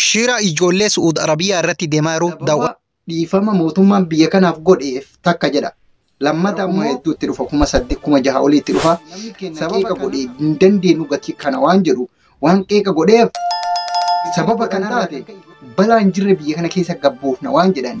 Shira ijoollee Su'uud Arabiyaa irratti deemaa jiru daawwadha. dhiifama mootummaan biyya kanaaf godheef takka jedha. Lammata ammoo hedduu itti dhufa kuma saddeet kuma jaha olii itti dhufa. Sababa godhe hin dandeenyu gatii kana waan jedhu waan qeeqa godheef sababa kan taate balaan jirre biyya kana keessa gabboofna waan jedhan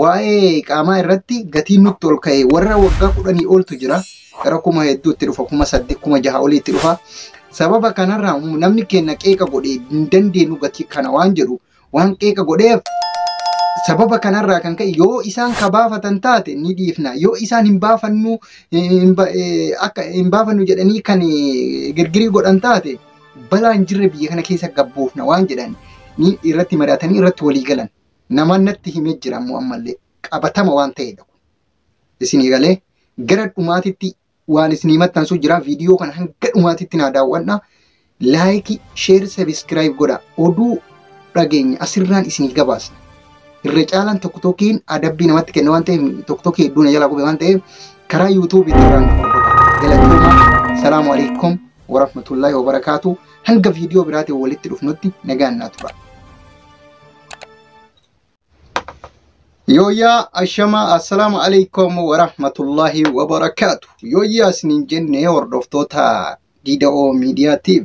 waa'ee qaamaa irratti gatiin nutti ol ka'e warra waggaa kudhanii oltu jira gara kuma hedduu itti dhufa kuma saddeet kuma jaha olii itti dhufa sababa kanarraa namni keenya qeeqa godhe hin dandeenyu gatii kana waan jedhu waan qeeqa godheef sababa kanarraa kan ka'e yoo isaan ka baafatan taate ni dhiifna yoo isaan hin baafannu hin ba- eh, akka hin baafannu jedhanii kan eh, girgirii godhan taate balaan jirre biyya kana keessa gabbuufna waan jedhan ni irratti mari'atanii irratti walii galan Namaan natti himee jira ammoo ammallee qabatama waan ta'eedha kun. Isinii galee gara dhumaatitti waan isinii maxxansuu jira viidiyoo kana hanga dhumaatitti naa daawwadha. Laayikii, sheer, sabiskiraayib godha. Oduu dhageenya asirraan isinii gabaasna. Irra caalaan tokko tokkiin adabbii namatti kenna waan ta'eef tokko tokki hedduu na jalaa qube waan ta'eef karaa yuutuubii irraa na hordofa. Galatoomaa. Salaamu alaikum warahmatullaahi wabarakaatu. Hanga viidiyoo biraatiin walitti dhufnutti nagaan naa tura. Yooyyaa ashamaa assalaamu alaikum warahmatullahi wabarakaatu. Yooyyaa isiniin jenne hordoftoota Diida'oo Miidiyaatiif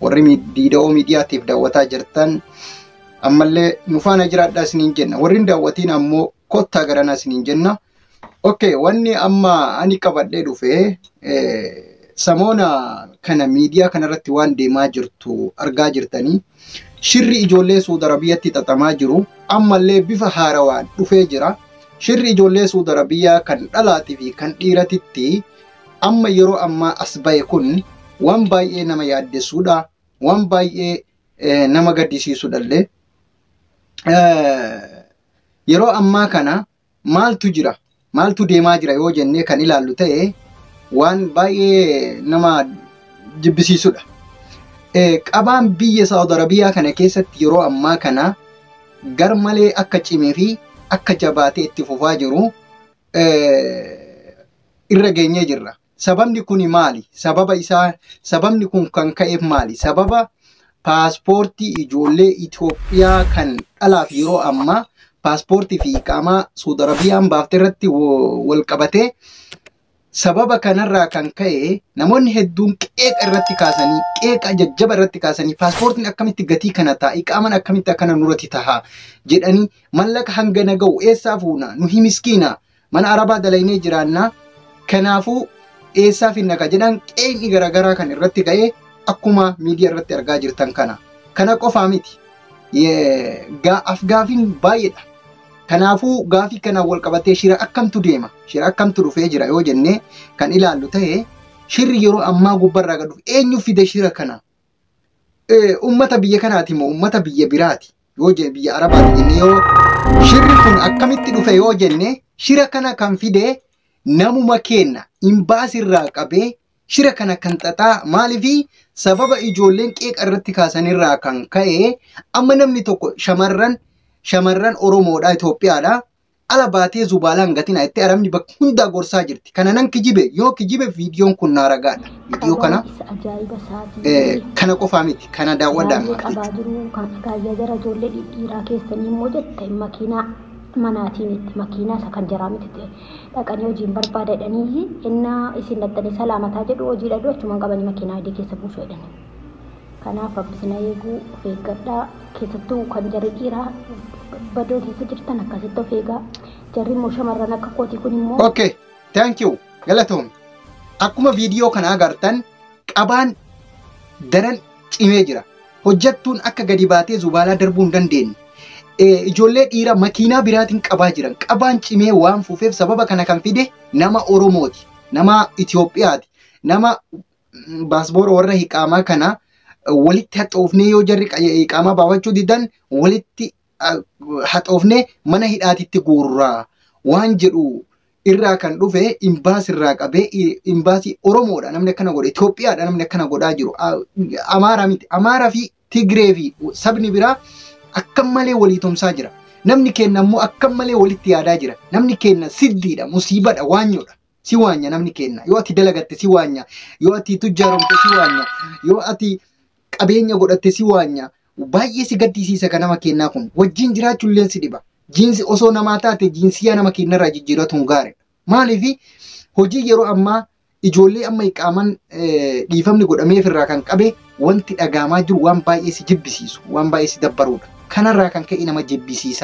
warri mi- Diida'oo Miidiyaatiif daawwataa jirtan ammallee nu faana jiraadhaa isiniin jenna. Warri hin daawwatiin ammoo kottaa garanaa isiniin jenna. Okay, wanni amma ani qabadhee dhufe eh, samoona kana miidiyaa kanarratti waan deemaa jirtu argaa jirtanii shirri ijoollee Suud Arabiyyatti xaxamaa jiru ammallee bifa haarawaan dhufee jira. Shirri ijoollee Suud Arabiyyaa kan dhalaatii fi kan dhiiratitti amma yeroo ammaa as ba'e kun waan baay'ee nama yaaddessuudha. Waan baay'ee eh, nama gaddisiisuudhallee. Eh, yeroo ammaa kana Maaltu jira? Maaltu deemaa jira yoo jennee kan ilaallu ta'e waan baay'ee nama jibbisiisudha. Qabaan biyya Saawud Arabiyaa kana keessatti yeroo ammaa kana gar malee akka cimee fi akka jabaatee itti fufaa jiru irra geenyee jirra. Sababni kuni maali? Sababa isaa sababni kun kan ka'eef maali? Sababa paaspoortii ijoollee Itoophiyaa kan dhalaaf yeroo ammaa paaspoortii fi iqaamaa Suud Arabiyaan baafte irratti wo- wal qabatee sababa kanarraa kan ka'e namoonni hedduun qeeqa irratti kaasanii qeeqa jajjaba irratti kaasanii paaspoortiin akkamitti gatii kana ta'a iqaaman akkamitti akkana nurratti taha jedhanii mallaqa hangana ga'u eessaa fuuna nu himiskiina Mana arabaa dalaynee jiraanna kanaafuu eessaa finna ka jedhan qeeyni garagaraa kan irratti ga'e akkuma miidiya irratti argaa jirtan kana. Kana qofaa miti. Afgaafiin baay'eedha. Kanaafuu gaafii kanaan wal qabatee shira akkamtu deema? Shira akkamtu dhufee jira yoo jennee kan ilaallu ta'e shirri yeroo ammaa gubbarraa gad dhufe eenyu fide shira kana? eh, ummata biyya kanaati moo ummata biyya biraati yoo jenne biyya arabaati jenne yoo shirri kun akkamitti dhufe yoo jenne shira kana kan fide namuma keenna imbaasirraa qabee shira kana kan xaxaa maaliifi sababa ijoolleen qeeqa irratti kaasanirraa kan ka'e amma namni tokko shamarran shamarran Oromoodha Itoophiyaadha Ala baatee zubaalaa hin gatinaa jettee Arabni bakka hundaa gorsaa jirti. Kana nan kijibe yoo kijibe viidiyoon kun naa ragaadha. Viidiyoo kana Abaarsa ajaa'iba isaatii. eh, kana qofaa miti kana daawwadhaan Baay'ee qabaa maatii. jiruu kan agaayyaa jara ijoollee dhidhiiraa keessanii immoo jette makiinaa manaatii miti makiinaa isa kan jaraa miti ta'e dhaqanii hojiin barbaadadhanii innaa isin dhattanii salaamataa jedhu hojii dhadhu achumaan qabanii makiinaa adii keessa buusu jedhanii. Kanaaf rabbi isin haa eeguu of eeggadhaa keessattuu kan jarri dhiiraa badoo keessa jirtan akkasitti of eegaa jarri immoo shamarran akka kootii kun immoo Okay, thank you. Galatoomi. Akkuma viidiyoo kana agartan qabaan daran cimee jira. Hojjattuun akka gadi baatee zubaalaa darbuu hin dandeenye. Eh, Ijoollee dhiira makiinaa biraatiin qabaa jiran. Qabaan cimee waan fuufeef sababa kana kan fide nama Oromooti. Nama Itoophiyaati. Nama baasboora warra hiqaamaa kana walitti haxoofnee yoo jarri hiqaamaa baafachuu didan walitti haxoofnee mana hidhaatitti guurraa waan jedhu irraa kan dhufe imbaas irraa qabee imbaasii Oromoodha namni akkana godhe Itoophiyaadha namni akkana godhaa jiru Amaaraa miti Amaaraa fi Tigree fi sabni biraa akka malee walii tumsaa jira. Namni keenya ammoo akka malee walitti yaadaa jira. Namni keenya siddiidha, musiibadha, waanyoodha. si waanya namni keenna yoo ati dalagatte si waanya yoo ati tujjaaromte si waanya yoo ati qabeenya godhatte si waanya baay'ee si gaddisiisa ka nama keennaa kun wajjin jiraachuulleen si dhiba jiinsi osoo namaa taate jiinsiyaa nama keennarraa jijjiiratuun gaariidha maaliif hojii yeroo ammaa ijoollee amma iqaaman dhiifamni godhameef irraa kan qabe wanti dhagaamaa jiru waan baay'ee si jibbisiisu waan baay'ee si dabbaruudha kanarraa kan ka'e nama jibbisiisa